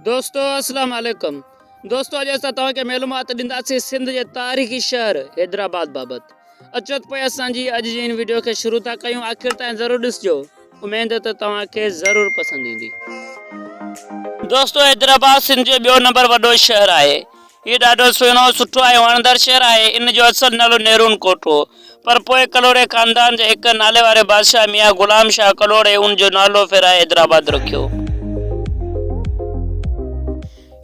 دوستو السلام عليڪم دوستو اڄ اسان توهان کي معلومات ڏينداسين سنڌ جي تاريخي شهر حيدرآباد بابت اچو ته پوء اسان جي اڄ جي ان ويڊيو کي شروع ٿا ڪيون آخر تائين ضرور ڏسجو اميد ته توهان کي ضرور پسند ايندي دوستو حيدرآباد سنڌ جو ٻيو نمبر وڏو شهر آهي هي ڏاڍو سهڻو، سٺو ۽ وڻندڙ شهر آهي. ان جو اصل نالو نيرون ڪوٽ هو، پر پوء ڪلهوڙي خاندان جي هڪ ناليواري بادشاهه ميان غلام شاهه ڪلهوڙي ان جو نالو ڦيرائي حيدرآباد رکيو.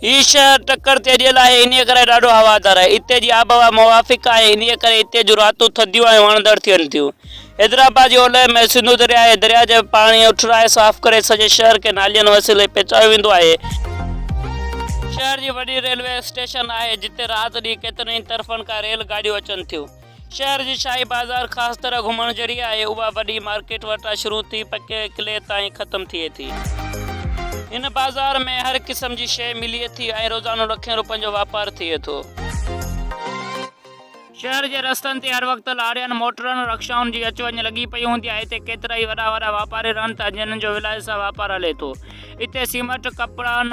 هي شهر ٽڪر تي اڏيل آهي، انهيء ڪري ڏاڍو هوادار آهي. اتي جي آبهوا موافق آهي، انهيء ڪري اتي جون راتون ٿڌيون ۽ وڻندڙ ٿين ٿيون. حيدرآباد جي اولهه ۾ سنڌو درياء ۽ درياء جي پاڻي اٺرائي صاف ڪري سڄي شهر کي نالين وسيلي پهچايو ويندو آهي. شهر جي وڏي ريلوي اسٽيشن آهي جتي رات ڏينهن ڪيترن ئي طرفن کان ريل گاڏيون اچن ٿيون. شهر جي شاهي بازار خاص طرح گهمڻ جهڙي آهي اها وڏي مارڪيٽ وٽان شروع ٿي پڪي قلعي تائين ختم ٿئي ٿي. هن بازار ۾ هر قسم جي شيء ملي ٿي ۽ روزانو لکين روپين جو واپار ٿئي ٿو. شهر جي رستن تي هر وقت لارين، موٽرن، رڪشائن جي اچ وڃ لڳي پئي هوندي آهي. هتي ڪيترائي وڏا وڏا واپاري رهن ٿا، جنھن جو ولايت سان واپار هلي ٿو. هتي سيمنٽ، ڪپڙن،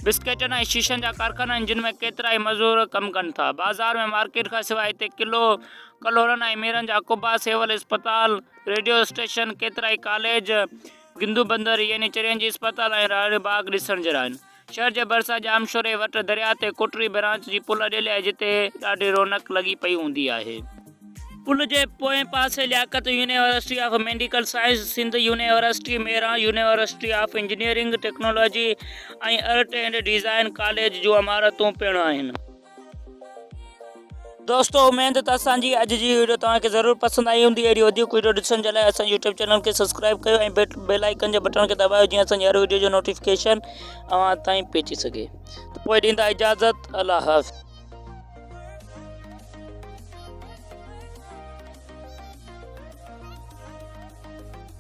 بسڪيٽن ۽ شيشن جا ڪارخانا آهن، جن ۾ ڪيترائي مزور ڪم ڪن ٿا. بازار ۾ مارڪيٽ کان سواء هتي قلعو، ڪلهوڙن ۽ ميرن جا قبا، سول اسپتال، ريڊيو اسٽيشن، ڪيترائي ڪاليج، گندو بندر يعني چرين جي اسپتال ۽ راڻي باغ ڏسڻ جهڙا آهن. شھر جي ڀرسان ڄامشوري وٽ درياء تي ڪوٽڙي برانچ جي پل اڏيل آھي جتي ڏاڍي رونق لڳي پئي ھوندي آھي. پل جي پوئين پاسي Liaquat university of medical science, Sindh university ميران، university of engineering technology ۽ art and design college جون عمارتون پڻ آھن. دوستو اميد ته اسان جي اڄ جي ويڊيو توهان کي ضرور پسند آئي هوندي اهڙي وڌيڪ ويڊيو ڏسڻ جي لاء اسان يوٽيوب چينل کي سبسڪرائب ڪيو ۽ بيل آئيڪن جي بٽڻ کي دٻايو جيئن اسان جي هر ويڊيو جو نوٽيفڪيشن اوهان تائين پهچي سگهي ته پوء ڏيندا اجازت الله حافظ